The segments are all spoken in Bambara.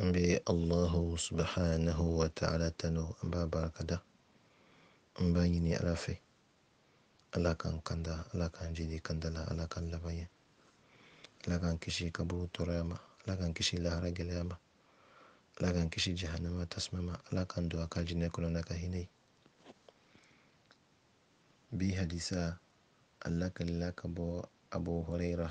An bɛ Alahu subhanahu wa ta'ala tanu an b'a barikada an b'a ɲini Ala fɛ Ala k'an kanda Ala k'an jidi kanda la Ala k'an laban ɲɛ Ala k'an kisi kaburu tɔɔrɔya ma Ala k'an kisi lahara gɛlɛya ma Ala k'an kisi jahanama tasuma ma Ala k'an don a ka alijinɛ kɔnɔ n'a ka hinɛ ye bi hadisa a lakalila ka bɔ Abu Hurayira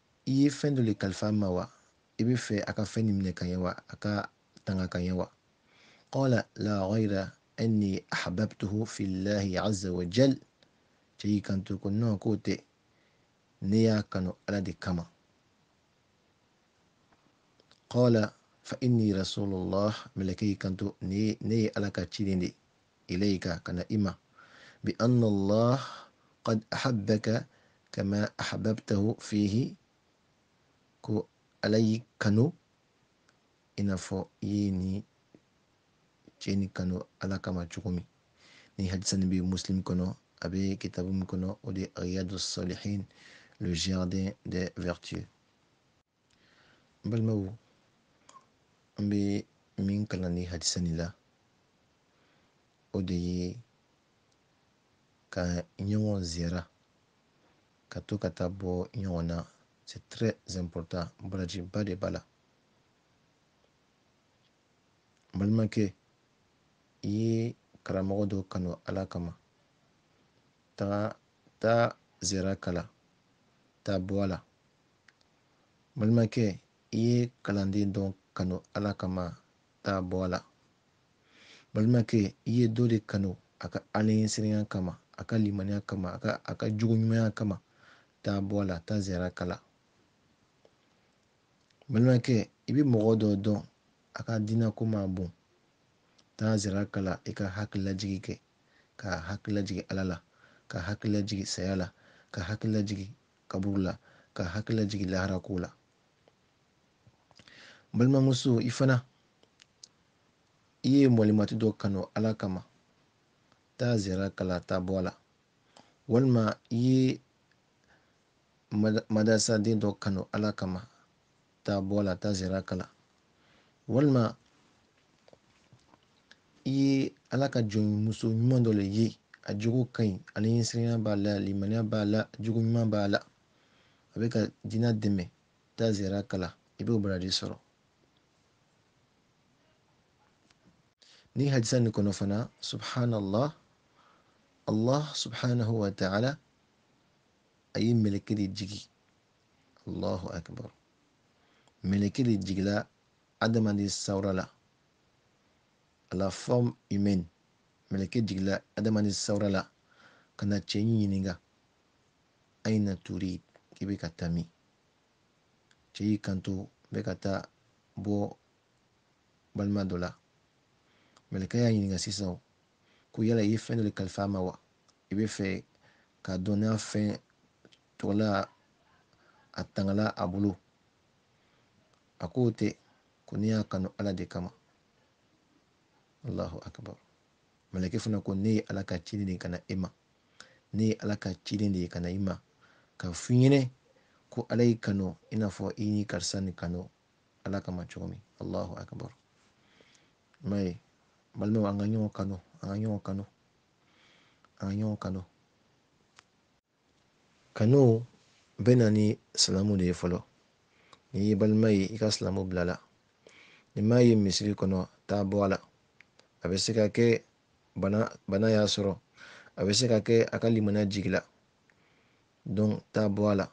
I ye fɛn dɔ le kalifa a ma wa? I b'a fɛ a ka fɛn nin minɛ ka ɲɛ wa? A k'a tanga ka ɲɛ wa? Qala la ghayra anni ahbabtuhu fillahi azza wa jal. Cɛ y'i kanto ko non k'o tɛ, ne y'a kanu Ala de kama. Qala fa inni rasulullah, mɛlɛkɛ y'i kanto ne ye Ala ka ciden de ye. ilayka ka na i ma bi anna allah qad ahabbaka kama ahbabtahu fihi ko ala y'i kanu i n'a fɔ i ye nin cɛ nin kanu ala kama cogo min nin hadisa nin bɛ muslim kɔnɔ a bɛ kitabu min kɔnɔ o de ye riyadu salihin le jardin des vertueux balimaw an bɛ min kalan nin hadisa nin la o de ye ka ɲɔgɔn ziyara ka to ka taa bɔ ɲɔgɔn na c'est très important barajiba de b'a la balimakɛ i ye karamɔgɔ dɔ kanu ala kama taa ziyara k'a la taa bɔ a la balimakɛ i ye kalanden dɔ kanu ala kama taa bɔ a la balimakɛ i ye dɔ de kanu a ka alaɲɛsiranya kama a ka limaniya kama a ka jogo ɲumanya kama taa bɔ a la taa ziyara k'a la balimakɛ i bɛ mɔgɔ dɔ dɔn a ka diinako ma bon taa ziyara k'a la i k'a hakililajigi kɛ k'a hakililajigi ala la k'a hakililajigi saya la k'a hakililajigi kaburu la k'a hakililajigi lahara ko la balimamuso i fana i ye mɔlimati dɔ kanu ala kama taa ziyara k'a la taa bɔ a la walima i ye madarasaden dɔ kanu ala kama taa bɔ a la taa ziyara k'a la walima i ye ala ka jɔnmuso ɲuman dɔ le ye a jogo ka ɲi alaɲɛsiranya b'a la limaniya b'a la jogo ɲuman b'a la a bɛ ka diina dɛmɛ taa ziyara k'a la i b'o baraji sɔrɔ nin hadisa nin kɔnɔ fana subhanallah allah subhanahu wa ta'ala a ye mɛlɛkɛ de jigi allahu akbar mɛlɛkɛ de jigila adamaden sawura la à la forme humaine mɛlɛkɛ jigila adamaden sawura la ka na cɛ ɲininka aina turid k'i bɛ ka taa min cɛ y'i kanto n bɛ ka taa bɔ balima dɔ la mɛlɛkɛ y'a ɲininka sisan ko yala i ye fɛn dɔ de kalifa a ma wa i b'a fɛ k'a dɔn n'a fɛn tɔgɔla a tangala a bolo a k'o tɛ ko ne y'a kanu ala de kama allahu akbar mɛlɛkɛ fana ko ne ye ala ka ciden de ye ka na e ma ne ye ala ka ciden de ye ka na i ma k'a f'i ɲɛnɛ ko ala y'i kanu i n'a fɔ i ni karisa nin kanu ala kama cogo min allahu akbar i m'a ye balimaw an ka ɲɔgɔn kanu an ka ɲɔgɔn kanu an ka ɲɔgɔn kanu kanu bɛ na ni salamu de ye fɔlɔ n'i y'i balima ye i ka salamu bila a la n'i m'a ye misiri kɔnɔ taa bɔ a la a bɛ se ka kɛ bana y'a sɔrɔ a bɛ se ka kɛ a ka limaniya jigila donc taa bɔ a la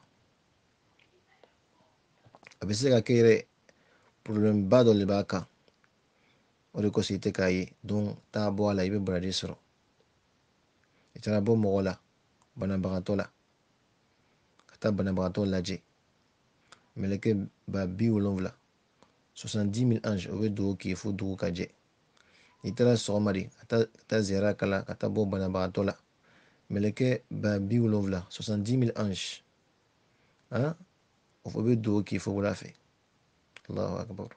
a bɛ se ka kɛ yɛrɛ problème ba dɔ de b'a kan o de kosɔn i tɛ k'a ye donc taa bɔ a la i bɛ baraji sɔrɔ i taara bɔ mɔgɔ la banabagatɔ la ka taa banabagatɔ lajɛ mɛlɛkɛ ba bi wolonwula soixante-dix mille anges o bɛ dugawu k'i ye fo dugu ka jɛ n'i taara sɔgɔma de ka taa ka taa ziyara k'a la ka taa bɔ banabagatɔ la mɛlɛkɛ ba bi wolonwula soixante-dix mille anges han o bɛ dugawu k'i ye fo wula fɛ allahu akbar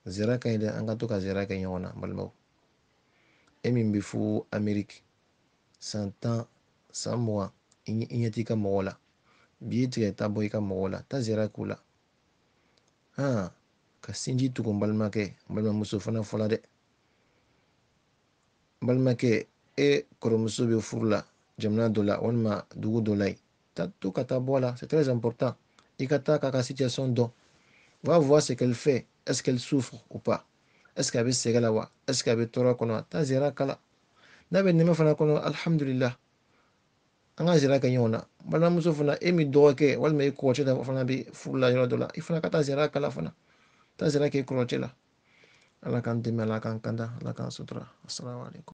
ziyara ka ɲi dɛ an ka to ka ziyara kɛ ɲɔgɔn na n balimaw e min bɛ fo ameriki san tan san mugan i ɲɛ t'i ka mɔgɔw la biye tigɛ taa bɔ i ka mɔgɔw la taa ziyara k'u la han ka sinji tugu n balimakɛ n balimamuso fana fɔla dɛ n balimakɛ e kɔrɔmuso bɛ furu la jamana dɔ la walima dugu dɔ la yen ta to ka taa bɔ a la c'est très important i ka taa k'a ka situation dɔn va voir ce qu'elle fait est ce qu'elle souffre ou pas est ce que a bɛ sɛgɛn la wa est ce que a bɛ tɔɔrɔ kɔnɔ wa taa ziyara k'a la n'a bɛ nɛmɛ fana kɔnɔ alihamudulila an ka ziyara kɛ ɲɔgɔn na balimamuso fana e min dɔgɔkɛ walima e kɔrɔcɛ la fana bɛ furu la yɔrɔ dɔ la i fana ka taa ziyara k'a la fana taa ziyara kɛ i kɔrɔcɛ la ala k'an dɛmɛ ala k'an kanda ala k'an sutura asalaamaaleykum